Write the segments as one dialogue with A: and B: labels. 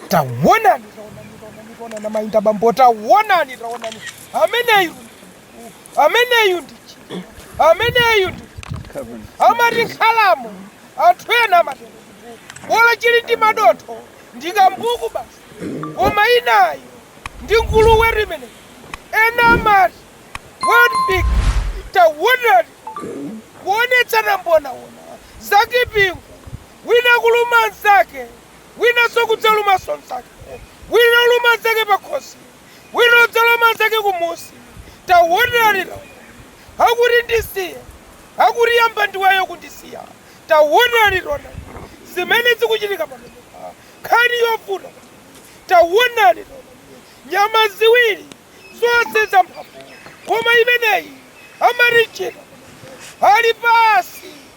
A: Taonani, taonani, taonani, taonani mayi ndi abambo, taonani, taonani. Ameneyu, ameneyu ndi chi- ameneyu ndi amati nkhalamu anthu ena amati bola chili ndi madontho ndi kambuku basi koma inayo ndi nguluwe imene ena amati wild pig taonani kuonetsana mbonaona zakipingu wina kuluma nzake Winanso kudzalumanso mzake, wina oluma mzake pakhosi, wina odzaluma mzake kumusi. Taonani taonani akuti ndisiye, akuti yamba ndiweyo kundisiya. Taonani taonani zimene zikuchitika pamenepa. Nkhani yovuta. Taonani taonani nyama ziwiri zonse zamphamvu koma imeneyi amati cheetah ali pasi.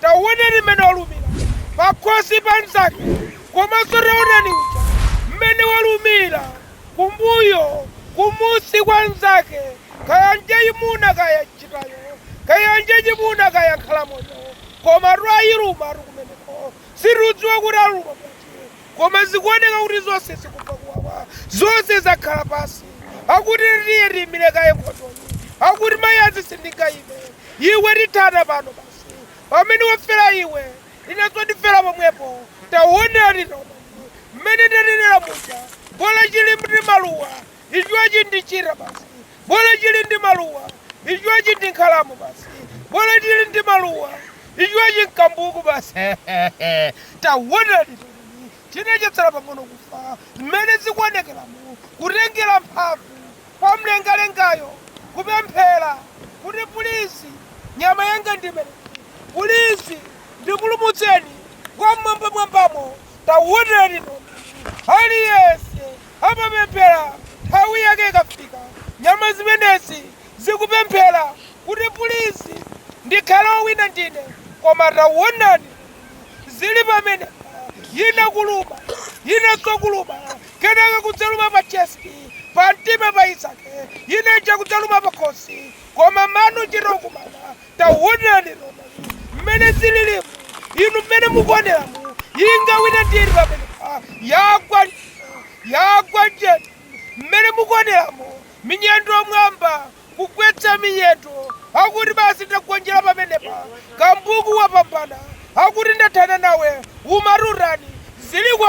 A: Taonani mmene walumira pakhosi pa mnzake komanso taonani uja mmene walumira kumbuyo, kumunsi kwa mnzake, kaya njaimuna kaya cheetahyo, kaya njaimuna kaya nkhalamuyo, komatu ayilumatu kumeneko. Sitikudziwa kuti aluma bwanji koma zikuoneka kuti zonse zikumva kuwawa. Zonse zakhala pansi. Akuti tiye tiimire kaye nkhondoyi. Akuti mayazi sindingayime. Iwe tithana pano basi. Pamene wafera iwe, inenso ndifera pomwepo. Taonani taonani, mmene ndanenera muja, bola chili ndi maluwa, ichochi ndi cheetah basi. Bola chili ndi maluwa, ichochi ndi nkhalamu basi. Bola chili ndi maluwa, ichochi n'kambuku basi. Taonani taonani, china chatsala pang'ono kufa, mmene zikuonekeramo, kutengera mphamvu kwa mlengalengayo kupemphera kuti pulizi nyama yanga ndimene, pulizi ndipulumutseni wam'mwambamwambamo tawonani tawonani aliyense amapemphera nthawi yake ikafika nyama zimenezi zikupemphera kuti pulizi ndikhale owina ndine koma tawonani zili pamenepa yina kuluma yinanso kuluma kenaka kudzaluma pa chest, pa mtima pa inzake yina ija kudzaluma pa khosi, koma mano ochita kukumana. Taonani taonani mmene zililimu, inu mmene mukuoneramu, ingawine ndi iti pamenepa, yagwa njiti, mmene mukuoneramu, minyendo mwamba, kugwetsa minyendo, akuti basi ndagonjera pamenepa, kambuku wapambana, akuti ndathana nawe, umati utani, zili kwa.